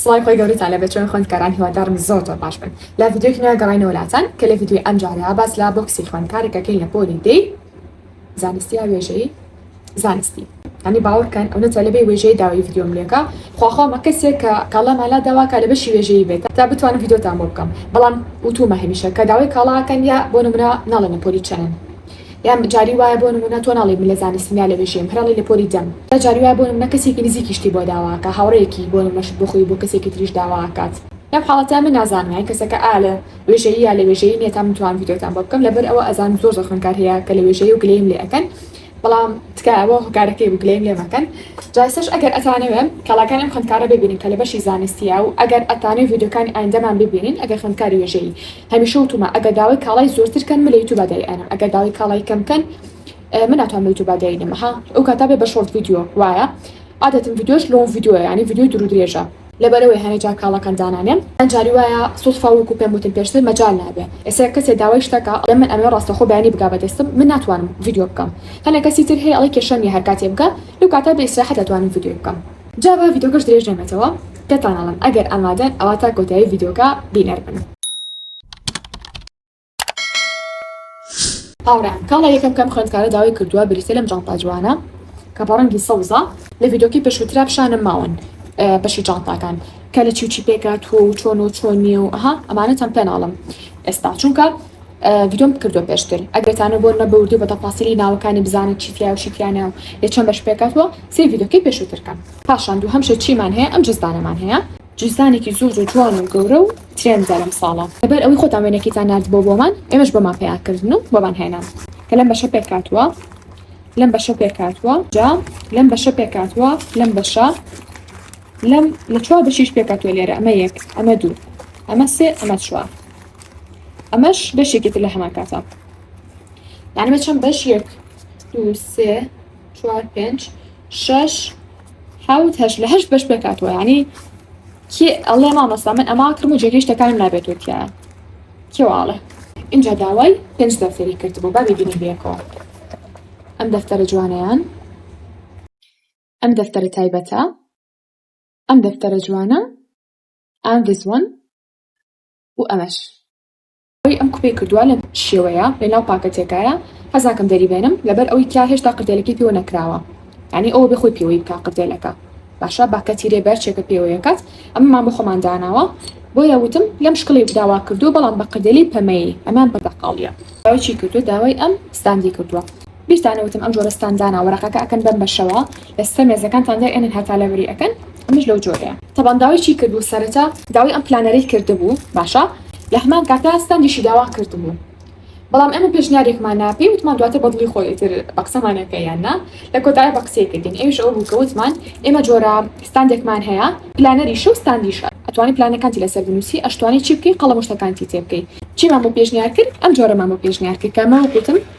سڵاوی خوای گەورەتان لێ بێت چۆن خوێندکاران هیوادارم زۆر زۆر باش بن لە ڤیدیۆیەکی نوێ گەڕاینەوە لاتان کە لە ڤیدیۆی ئەم جارە باس لە بۆکسی خوێندکارێک ئەکەین لە پۆلی دەی زانستی یا وێژەیی زانستی هەنی باوەڕ کەن ئەو نەتە لەبێ وێژەی داوای ڤیدیۆم لێکە خواخوامە کەسێک کە کاڵامان لا داوا کە لە بەشی وێژەیی بێت تا بتوانم ڤیدیۆتان بۆ بکەم بەڵام وتومە هەمیشە کە داوای کاڵاکەن یا بۆ نمرە ناڵێن لە پۆلی چەنن یان جاری وایە بۆ نمونە تۆ ناڵێی من لە زانستم یا لە وێژەیم هەر ئەڵێی لە پۆلی دەم جا جاری وایە بۆ نمونە کەسێکی نزیکی شتی بۆ داوا ئەکا هاوڕێیەکی بۆ نمونە شت بۆ خۆی و بۆ کەسێکی تریش داوا ئەکات لەم حاڵەتە من نازانم یان کەسەکە ئایا لە وێژەیی یا لە وێژەیی نیە تا من توانم ڤیدیۆتان بۆ بکەم لەبەر ئەوە ئەزانم زۆر زۆر خوێنکار هەیە کە لە وێژەیی و گلەییم لێ ئەکەن بەڵام تکایە بۆ هۆکارەکەی بوو گلەییم لێ مەکەن جا ئێستاش ئەگەر ئەتانەوێ کەڵاکانی ئەم خوێندکارە ببینن کە لە بەشی زانستیە و ئەگەر ئەتانەوێ ڤیدیۆکانی ئایندەمان ببینین ئەگەر خوێندکاری وێژەیی هەمیشە وتومە ئەگەر داوای کاڵای زۆرتر کەن من لە یوتوبا دای ئەنم ئەگەر داوای کاڵای کەم کەن من ناتوانم لە یوتوبا دای نەم ها ئەو کاتا بێ بە شۆرت ڤیدیۆ وایە عادەتم ڤیدیۆش لۆن ڤیدیۆ ینی ڤیدیۆی دوور و درێژە لەبەرەوەی هەنێ جار کاڵەکان دانانێم یان جاری وایە سوتفا وەکو پێم وتن پێشتر مەجال نابێ ئێستا یەک کەسێ داوای شتە کا ئەڵێ من ئەمەوێ ڕاستەخۆ بەیانی بگا بە دەستم من ناتوانم ڤیدیۆ بکەم هەنێ کەسی تر هەیە ئەڵێ کێشە نییە هەر کاتێ بگا لەو کاتا بێ ئیسراحەت ئەتوانم ڤیدیۆی بکەم جا با ڤیدۆکەش درێژ نەبێتەوە پێتان ئەڵێم ئەگەر ئامادەن ئەوا تا کۆتایی ڤیدۆکە بینەر بن. هاوڕێیان کاڵای یەکەم کەم خوێندکارە داوای کردووە بریتیە لەم جانتا جوانە کە بە ڕەنگی سەوزە لە ڤیدۆکی پێشووترا پیشانم ماون بەشی جانتاکان کە لە چیوچی پێکاتوە و چۆن و چۆن نیە و ئەها ئەمانەتان پێناڵم ئێستا چونکە ڤیدۆم بکردوە پێشتر ئەگەر تانە بۆ نەبوردو بە تەفاسیلی ناوەکانی بزانن چی تیایە و چی تیا نیە و لە چەند بەش پێکهاتوە سەیر ڤیدۆکەی پێشوتر کەن پاشان دوهەم شت چیمان هەیە ئەم جزدانەمان هەیە جزدانێکی زۆر زۆر جوان و گەورە و ترێندە لەم ساڵە لەبەر ئەوەی خۆتان وێنەکەیتان ناردبۆ بۆمان ئێمەش بۆمان پەیا کردن و بۆمان هێنان کە لەم بەشە پێکهاتوە لەم بەشە پێکهاتوە جا لەم بەشە پێکهاتوە لەم بەشە لەم لە چوار بەشیش پێکهاتوە لێرە ئەمە یەک ئەمە دوو ئەمە سێ ئەمە چوار ئەمەش بەشێکی تر لە هەمان کاتە یانمە چەند بەش یەک دو سێ چوار پێنج شش حوت هەش لە هەشت بەش بکاتوە ینی کێ ئەڵێ مامەستا من ئەما کرم و جێگەی شتەکانم نابێتوە تیا کێواڵێ اینجا داوای پێنج دەفتەری کرد بۆ بابی بینی بێکەوە ئەم دەفتەرە جوانیان ئەم دەفتەرە تایبەتە ئەم دەفتەرە جوانە ئەم دزوان و ئەمەش ئەوەی ئەم کوپەی کردوە لەم شێوەیە لەناو پاکە تێکایە حەزناکەم دەری بێنم لەبەر ئەوەی کیا هێشتا قردێلەکەی پێوە نەکراوە یانی ئەوە بێ خۆی پێوەی بکا قردێلەکە باشە با کەتی رێ بەر چێکە پێوەیە کات ئەمەمان بۆ خۆمان داناوە بۆیە وتم لەم شکڵی داوا کردو بەڵام بە قردێلی پەمەیی ئەمان بەردەقاڵیە داوای چی کردوە داوای ئەم ستاندی کردوە بیرتانە وتم ئەم جۆرە ستان دانا وەرەقەکە ئەکەن بەم بەشەوە لەسەر مێزەکانتان دای ئەنن هەتا لەبری ئەکەن ئەمەش لەو جۆرەیە. تەبان داوای چی کردبوو سەرەتا داوای ئەم پلانەرەی کردبوو باشە لەهەمان کاتا ستاندیشی داوا کردبوو بەڵام ئێمە پێشنیارێکمانە پێی وتمان دواتر بەدڵی خۆی ئیتر بەقسەمان ئەکەی یان نا لەکۆتایە بەقسەی کردین ئەویش ئەوە بوو کە وتمان ئێمە جۆرە ستاندێکمان هەیە پلانەریشە و ستاندیشە ئەتوانی پلانەکانتی لەسەر بنوسی ئەشتوانی چی بکەی قەڵەم و شتەکانتی تێبکەی چیمان بۆ پێشنیار کرد ئەم جۆرەمان بۆ پێشنیار کرد کە من وتم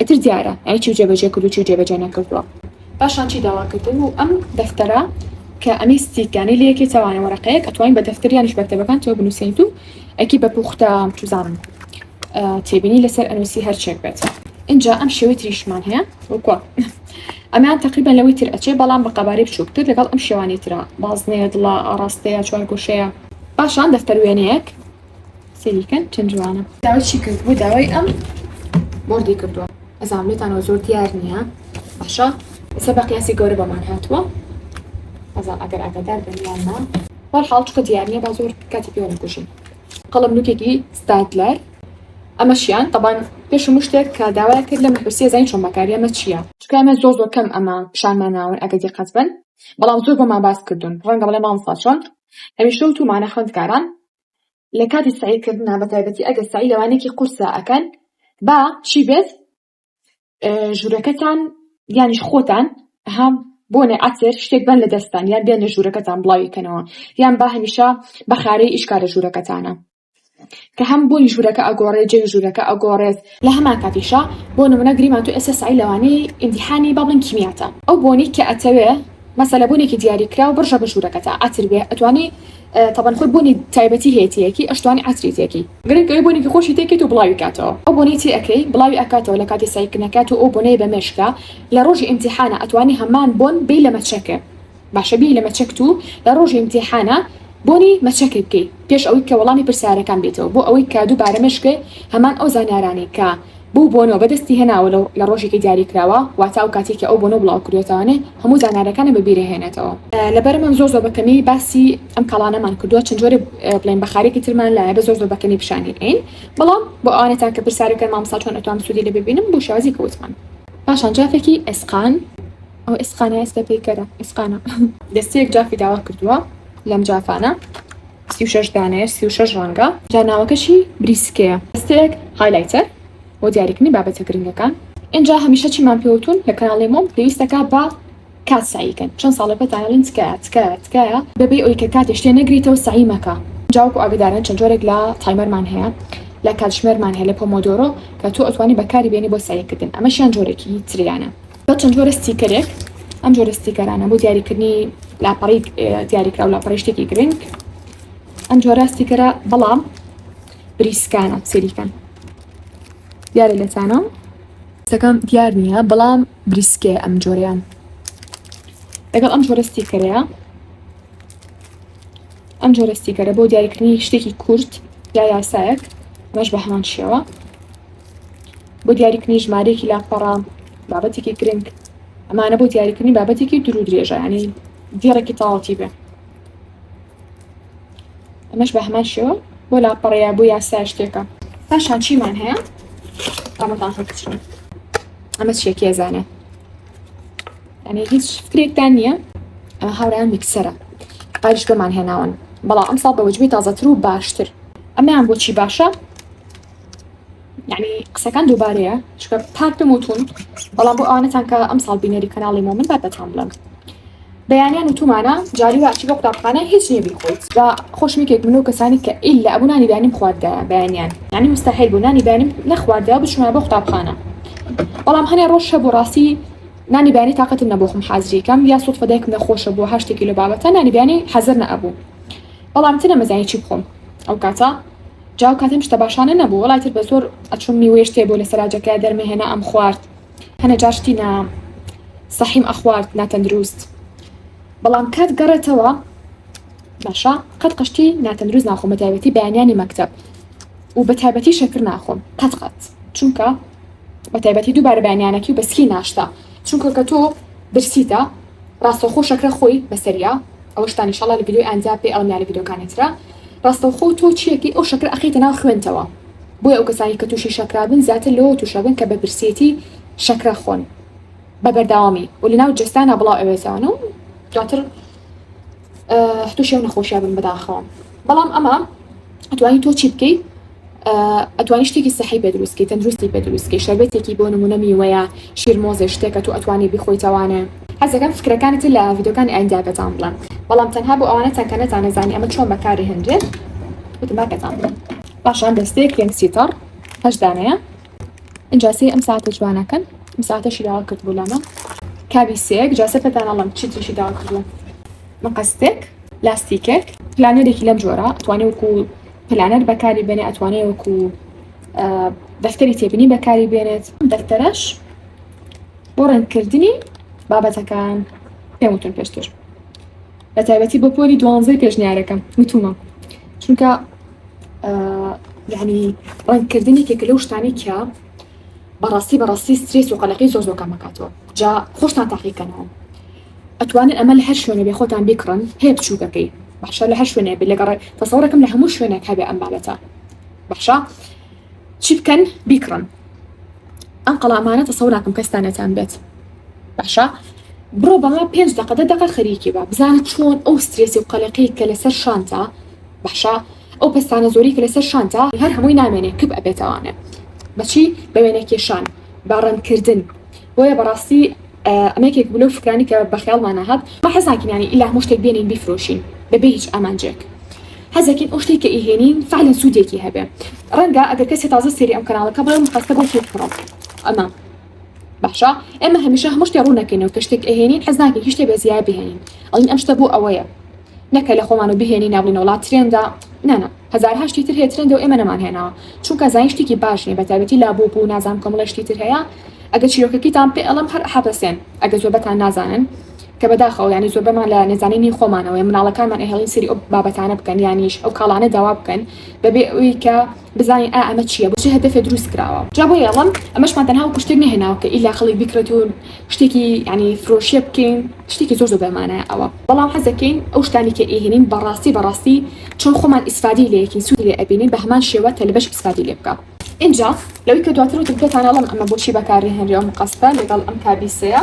ئیتر دیارە یانی چی جێبەجێ کردو چی جێبەجێ نەکردووە. پاشان چی داوا کردن و ئەم دەفتەرە کە ئەمی ستیک یانی لە یەکێ تاوانە وەرەقەیەک ئەتوانین بە دەفتەر یانیش بەکتەبەکان تۆ بنووسێنیت و ئەکی بە پوختە چزانم تێبینی لەسەر ئەنووسی هەرچێک بێت اینجا ئەم شێوەی تریشمان هەیە وکۆ ئەمیان تقریبان لەوەی تر ئەچێ بەڵام بە قەبارەی بچووکتر لەگەڵ ئەم شێوانی تررا بازنەیە دڵە ئاراستەیە چوار گۆشەیە پاشان دەفتەروێنەیەک سەیریکەن چەند جوانە. داوای چی کردبوو داوای ئەم بۆردی کردووە ئەزام لێتانەوە زۆر دیار نییە باشە ئێستا بە قیاسی گەورە بەمان هاتووە ئەزام ئەگەر ئاگادار بن یان نا وەڵ حاڵ چکە دیار نییە با زۆر کاتی پێوە نکوژین قەڵم نوکێکی ستادلەر ئەمەشیان تەبان پێش هەموو شتێک کە داوای کرد لە مەحوسیە زین چۆن بەکاری ئەمە چییە چکە ئەمە زۆر زۆر کەم ئەمە پیشانمان ناون ئەگەر دیقەت بن بەڵام زۆر بۆمان باس کردوون ڕەنگە بڵێ مامۆستا چۆن هەمیشە وتومانە خوێندکاران لە کاتی سەعی کردنا بە تایبەتی ئەگەر سەعی لەوانێکی قورسە ئەکەن با چی بێت ژوورەکەتان یانیش خۆتان هەم بۆنێ ئەتر شتێک بەن لە دەستان یان بێنە ژوورەکەتان بڵاویکەنەوە یان با هەمیشە بە خارەی ئیشکارە ژوورەکەتانە کە هەم بۆی ژوورەکە ئەگۆڕێ جێ ژوورەکە ئەگۆڕێت لە هەمان کاتیشا بۆ نمونە گریمان تۆ ئێستا سەعی لەوانەیە ئیمتیحانی با بڵێین کیمیاتە ئەو بۆنەی کە ئەتەوێ مەسەلە بۆنێکی دیاری کراو بڕژە بە ژوورەکەتا عەتر بێ ئەتوانی تەبەن خۆی بۆنی تایبەتی هەیەتیەکی ئەشتوانی عەتری تێکی گرنگ ئەوەی بۆنێکی خۆشی تێکەیت و بڵاوی کاتەوە ئەو بۆنەی تێ ئەکەی بڵاوی ئەکاتەوە لە کاتی سەعیکردنەکەیا تۆ ئەو بۆنەی بە مێشکا لە ڕۆژی ئیمتیحانا ئەتوانی هەمان بۆن بێی لە مەچەکێ باشە بیەی لە مەچەک تو لە ڕۆژی امتیحانە بۆنی مەچەکەی بکەی پێش ئەوەی کە وەڵامی پرسیارەکان بێتەوە بۆ ئەوەی کە دو بارە مەشکێ هەمان ئەو زانیارانەی کە بو بۆنەوە بەدەستی هێناوە لە ڕۆژێکی دیاری کراوە واتا ئەو کاتەی کە ئەو بۆنەو بڵاو کردوەتەوانێ هەمو زانیارەکانی بە بیرە هێنێتەوە. لەبەر من زۆر زۆر بە کەمی باسی ئەم کاڵانەمان کردوە چەند جۆرێ بڵێن بە خارێکی ترمان لایە بە زۆر زۆر بە کەمی پیشانی ئەین بەڵام بۆ ئەوانەتان کە پرسیارەکەن مامۆستا چۆن ئەتوام سودی لێ ببینم بو شێوازی کە وتمان پاشان جافێکی ئێسقان. ئەو ئێسقانە ئێستا پەیکەرە ئێسقانە. دەستەیەک جافی داوا کردووە لەم جافانە سی و شەش دانەیە سی و شەش ڕەنگە. جا ناوەکەشی بریسکەیە. دەستەیەک هایلایتەر بۆ دیاریکردنی بابەتە گرنگەکان. ئینجا هەمیشە چیمان پێوتوون لە کەناڵی مۆم پێویستەکە بە کات سەعی کەن چەند ساڵە پێتان ئەڵێن تکایە تکایە تکایە بەبێ ئەوی کە کاتێش تێ نەگریتەوە سەعی مەکە جا وەکو ئاگدارن چەند جۆرێک لە تایمەرمان هەیە لە کاتژمێرمان هەیە لە پۆمۆدۆرۆ کە تۆ ئەتوانی بەکاری بێنی بۆ سەعی کردن ئەمەشیان جۆرێکی تریانە. بە چەند جۆرە ستیکەرێک ئەم جۆرە ستیکەرانە بۆ دیاریکردنی لاپەڕی دیاریکرا و لاپەڕی شتێکی گرنگ ئەم جۆرە ستیکەرە بەڵام بریسکانە سەریکەن دیارە لەتانە سەکەم دیار نییە بەڵام بریسکێ ئەم جۆریان لەگەڵ ئەم جۆرە ستیکەرەیە ئەم جۆرە ستیکەرە بۆ دیاریکردنی شتێکی کورت یا یاسایەک مەش بە هەمان شێوە بۆ دیاریکردنی ژمارەیەکی لاپەڕە بابەتێکی گرنگ ئەمانە بۆ دیاریکردنی بابەتێکی درو درێژانی دیڕێکی تاڵتی بێ ئەمەش بە هەمان شێوە بۆ لاپەڕەیە بۆ یاسا شتێکە پاشان چیمان هەیە ئەمەتان خەکچن ئەمە شێکی ئەزانە ئەنێ هیچ فکرێکتان نییە ئەمە هاوران میکسەرە ئاریشگەمان هێناون بەڵام ئەم ساڵ بە وەجبی تازەتر و باشتر ئەمیان بۆچی باشە یعنی قسەکان دووبارەیە چکە پاکتم وتون بەڵام بۆ ئەوانەتان کە ئەم ساڵ بینەری کەناڵی مۆمن بات بەتان بڵم بەیانیان وتومانە جاری واچی بۆ قوتابخانە هیچ نیە بیخۆیت جا خۆشمێکێک منەوە کەسانی کە ئیلا ئەبوو نانی بەیانیم خواردە بەیانیان ینی مستەحیل بوو نانی بەیانیم نەخواردە بچمە بۆ قوتابخانە بەڵام هەنێ ڕۆژ هەبوو ڕاستی نانی بەیانی تااقەتم نەبوو خم حازریکەم یا سوود فەدایکم نەخۆشە بوو هەشتێکی لە بابەتە نانی بەیانی حەزر نەبوو بەڵام ترە مەزانی چی بخۆم ئەو کاتە جا ئەو کاتە ئەم شتە باشانە نەبوو وەڵای تر بە زۆر ئەچووم میوەی شتێ بۆ لە سەراجەکەیا دەرمەهێنا ئەم خوارد هەنە جار شتی نا سەحیم ئەخوارد ناتەندروست بەڵام کات گەڕێتەوە باشە قەت قشتی ناتەندروست ناخۆم بە تایبەتی بەیانیانی مەکتب و بە تایبەتی شەکر ناخۆم قەت قەت چونکە بە تایبەتی دووبارە بەیانیانەکی و بەسکی ناشتا چونکە کە تۆ برسیتە ڕاستەوخۆ شەکرە خۆی بەسەریا ئەوەشتان ئیشەڵا لە ڤیدۆی ئایندا پێ ئەڵێم یا لە ڤیدۆکانی ترا ڕاستەوخۆ تۆ چیەکی ئەو شەکرە ئەخەیتە ناو خوێنتەوە بۆیە ئەو کەسانی کە تووشی شەکرابن زیاتر لەوە تووشەبن کە بە برسێتی شەکرە خۆن بە بەرداوامی و لەناو جەستانا بڵاو ئەوێتەوە و دواتر تووشی ئەو نەخۆشیە بن بەداخەوە بەڵام ئەمە ئەتوانی تۆ چی بکەیت ئەتوانی شتێکی سەحی پێ دروستکەی تەندروستی پێ دروستکەی شەربەتێکی بۆ نمونە میوەیە شیرمۆزە شتێکە تو ئەتوانی بخۆیتەوانێ حەزەکەم فکرەکانی تر لە یددیوکانی ئایندا پێتان بڵێم بەڵام تەنها بۆ ئەوانە چەنکە نەتانەزانانی ئەمە چۆن بەکاری هەندێت وتما پێتان بڵێم باشان دەستەیەک کرێم سیتەڕ هەشدانەیە ئینجا سێ ئەم ساتە جوانەکەن ئەم ساتەشی داوا کردبوو لەمە کابی سێک جاسە پێتانەڵم چی تریشی داوا کردووە مەقەستێک لاستیکێک پلانێرێکی لەم جۆرە توانێ وکو پلانەر بەکاری بێنێ ئەتوانێ وەکو دەفتەری تێبینی بەکاری بێنێت دەفتەرش بۆ ڕێنکردنی بابەتەکان پێمتون پێشتر بە تایبەتی بۆ پۆلی دوانزەی پێشنیارەکەم وتومە چونکە یعنی ڕەنگکردنی کێکە لەو شتانی کە بەڕاستی بەڕاستی سترێس و قەلەقی زۆر زۆر کامەکاتەوە جا خۆشتان تاقیکەنەوە ئەتوانن ئەمە لە هەر شوێنە بێ خۆتان بیکڕن هەیە بچووکەکەی بەخشە لە هەر شوێنە بێ لەگەڕێ تەسەڕەکەم لە هەموو شوێنێک هەبێ ئەم بابەتە بەخشە چی بکەن بیکڕن ئەم قەڵا ئەمانە تەسەوو ناکەم کەستا نەتان بێت باشە بڕۆ بەڵا پێنج دقە دە دقە خەریکی بە بزانە چۆن ئەو سترێسی و قەلەکەی کە لەسەر شانتا باشە ئەو پستانە زۆری کە لەسەر شانتا هەر هەمووی نامێنێ کپ ئەبێتوانێ بەچی بەوێنە کێشان باڕەنکردن بۆیە بەڕاستی ئەمە یەکێک بوو لەو فکرانی کە بە خەیاڵمانا هات ما حەز ناکەین یانی ئیلا هەموو شتێک بێنین بیفرۆشین بەبێ هیچ ئامانجێک حەز دەکەین ئەو شتێک کە ئیهێنین فعلا سوودێکی هەبێ ڕەنگە ئەگەر کەسێ تازە سێری ئەم کەناڵەکە بڵێ مقەستە بۆ کێ بکڕم ئەمە باشە ئێمە هەمیشە هەموو شتێ ڕوو نەکەینەوە کە شتێک ئەهێنین حەز ناکەین هیچ شتێ بە زیای بهێنین ئەڵین ئەم شتە بۆ ئەوەیە نەکە لەخۆمانو بهێنی نابنە وڵات ترێندە نا نا هەزارها شتی تر هەیە ترێندەو ئێمە نەمان هێناوە چونکە زین شتیکی باش نیە بەتایبەتی لابو بو نازانم کۆمەڵێ شتی تر هەیە ئەگەر چیرۆکەکیتان پێ ئەڵێم هەر حەپەسێن ئەگەر زۆربەتان نازانن کە بەداخەوە یانی زۆربەمان لە نەزانینی خۆمانەوەیە مناڵەکانمان ئەهێڵین سەیری ئەو بابەتانە بکەن یانیش ئەو کاڵانە داوا بکەن بەبێ ئەوی کە بزانین ئا ئەمە چیە بۆ چ هەدەفێ دروست کراوە جا بۆیە ئەڵێم ئەمەشمان تەنها وەکو شتێک نەهێناوە کە ئیلا خەڵک بیکڕێت و شتێکی یانی فرۆشیە بکەین شتێکی زۆر زۆر بێ مانایە ئەوە بەڵام حەز دەکەین ئەو شتانی کە ئەیهێنین بە ڕاستی بە ڕاستی چۆن خۆمان ئیسفادەی لێ یەکەین سوودی لێ ئەبینین بە هەمان شێوە تەلبەش ئیسفادەی لێ بکا ئینجا لەوەی کە دواتر وتم پێتان ئەڵێم ئەمە بۆچی بەکار ئەهێنرێ ئەو مقەستە لەگەڵ ئەم کابیسەیە.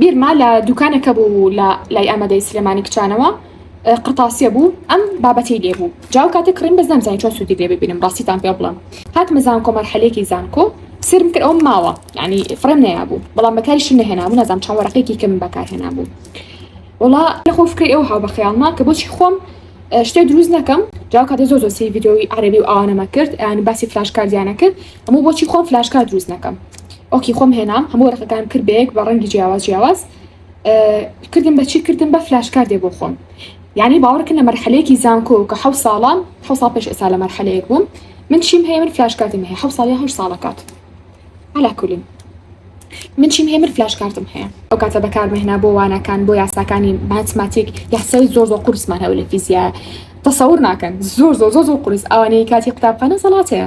بیرمە لە دوکانەکە بوو لە لای ئامادەی سلێمانی کچانەوە قرتاسیە بوو ئەم بابەتی لێ بوو جاو کاتێک کڕین بەس نامزانی چۆن سوودی لێ ببینم ڕاستیتان پێ بڵم هاتمە زانکۆ مەرحەلێکی زانکۆ سرم کرد ئەوم ماوە ینی فڕێم نەیابوو بەڵام بەکاری شم نەهێنابوو نازام چەند وەرەقێکی کەم بەکار هێنابوو وڵا لەخۆ فکری ئەو هاو بەخیاڵما کە بۆچی خۆم شتێ دروست نەکەم جاو کاتە زۆ زۆسی یددیوی عربی و ئەوانەمە کرد ئەیان باسی فلاش کاردیانە کرد هەموو بۆچی خۆم فلاش کارد دروست نەکەم ئۆکی خۆم هێنام هەموو ڕقەکان کرد بەیەک بە ڕەنگی جیاواز جیاواز کردم بە چی کردم بە فلاش کاردێ بۆ خۆم یعنی باوەڕکن لە مەرحەلەیەکی زانکۆ کە حە ساڵان حە سا پێش ئێسا لە مەرحەلەیەک بووم من چیم هەیە من فلاش کاتم هەیە حە ساڵی هە ساڵەکات هەلاکولین من چیم هەیە من فلاش کارتم هەیە ئەو کاتە بەکارمەهنا بۆ وانەکان بۆ یاساکانی ماتماتیک یاسای زۆر زۆر قورسمان هەو لە فیزیا تەسەور ناکەن زۆر زۆر زۆر زۆر قرس ئەوانەی کاتی قوتابخانە زەڵاتەیە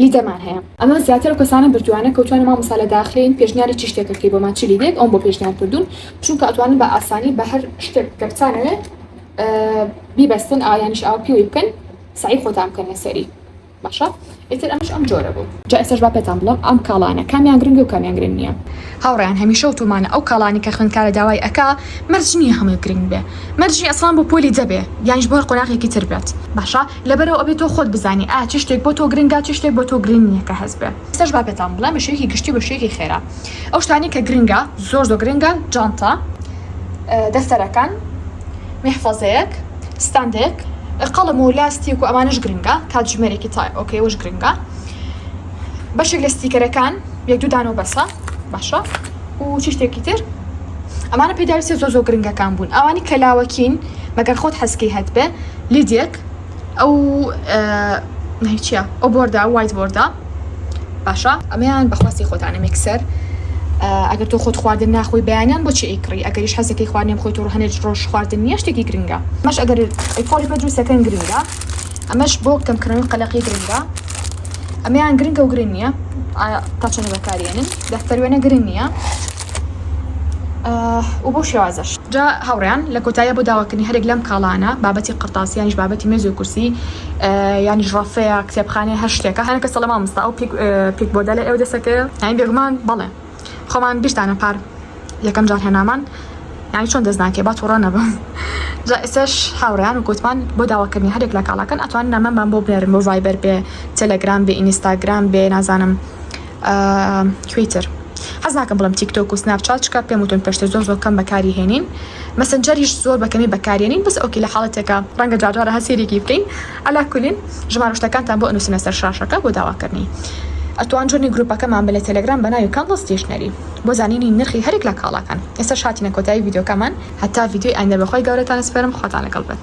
لیدەرمان هەیە. ئەمە زیاتر ئەو کەسانە بردوانە کەوتوانە مامۆستا لە داخلین پێشنیاری چی شتێکە بکەی بۆمان چ لیدێک ئەوم بۆ پێشنیار کردون چونکە ئەتوانن بە ئاسانی بە هەر شتێک کە بتانەوێ بیبەستن ئا یانیش ئاو پیوەی بکەن سەعی خۆتان بکەن لەسەری باشە ئیتر ئەمەش ئەم جۆرە بوو. جا ئێستاش با پێتان بڵێم ئەم کاڵانە کامیان گرنگە و کامیان گرنگ نیە. هاوڕێیان هەمیشە وتومانە ئەو کاڵانەی کە خوێندکارە داوای ئەکا مەرج نیە هەمووی گرنگ بێ مەرج نیە ئەسڵان بۆ پۆلی دە بێ یانیش بۆ هەر قۆناغێکی تر بێت. باشە لەبەرئەوە ئەبێ تۆ خۆت بزانی ئایا چ شتێک بۆ تۆ گرنگە، چ شتێک بۆ تۆ گرنگ نییە کە هەست بێ. ئێستاش با پێتان بڵێم بە شێوەیەکی گشتی و بە شێوەیەکی خێرا ئەو شتانەی کە گرنگە، زۆر زۆر گرنگە، جانتا، دەفتەرەکان، میحفەزەیەک، ستاندێک، قەڵەم و لاستیک و ئەمانەش گرنگە، کاتژمێرێکی تای ئۆکەی ئەوەش گرنگە، بەشێک لە ستیکەرەکان یەک دوو دانە و بەسە باشە و چی شتێکی تر، ئەمانە پێداویستییە زۆر زۆر گرنگەکان بوون، ئەوانەی کە لاوەکین مەگەر خۆت حەزکەی هەتبێ. لیدێک ئەو چیە ئەو بۆردا وایت بۆردا باشە ئەمەیان بەخواستی خۆتانە مێکسەر ئەگەر تۆ خۆت خواردن ناخۆی بەیانیان بۆ چی ئەیکڕی ئەگەریش حەزەکەی خواردنێم خۆی تۆڕ هەنێت ڕۆژ خواردن نیە شتێکی گرنگە مەش ئەگەر ئەیکۆڵی بە جووسەکەن گرنگە ئەمەش بۆ کەمکردنەوەی قەلەقی گرنگە ئەمەیان گرنگە و گرنگ نییە تا چەنە بەکارێنن دەفتەروێنە گرنگ نییە و بەو شێوازەش. جا هاوڕێیان لە کۆتاییا بۆ داواکردنی هەرێک لەم کاڵانە، بابەتی قەڕتاس یانیش بابەتی مێز و کورسی یانیش ڕەفەیە، کتێبخانەیە هەر شتێکە، هەنە کەسە لە مامۆستا ئەو پیک پیک بۆردە لە ئێوە دەسەکەوێ؟ یانی بێگومان بەڵێ خۆمان بیرتانە پار یەکەم جار هێنامان یانی چۆن دەست ناکەی با توڕە نەبم جا ئێستاش هاوڕێیان و کوتمان بۆ داواکردنی هەرێک لە کاڵاکان ئەتوانن نامەمان بۆ بنێرن بۆ ڤایبەر بێ تێلێگرام بێ ئینیستاگرام بێ نازانم کوێی تر حەز ناکەم بڵێم تیکتۆک و سناپ چات چکە پێم وتون پێشتر زۆر زۆر کەم بەکاری هێنین مەسنجەریش زۆر بەکەمی بەکارێنین بەس ئۆکی لە حاڵەتێکە ڕەنگە جاجارە هە سێرێکی بکەین ئەلا کولین ژمارە شتەکانتان بۆ ئەنووسینە سەر شاشەکە بۆ داواکردنی ئەتوان جوێنی گروپەکەمان بە لە تەلەگرام بە ناوی کاندڵ ستیشنەری بۆ زانینی نرخی هەرێک لە کاڵاکان ئێستاش هاتینە کۆتایی ڤیدیۆکەمان هەتا ڤیدیۆی ئایندە بەخوای گەورەتان سپێرم خواتان لەگەڵ بێت.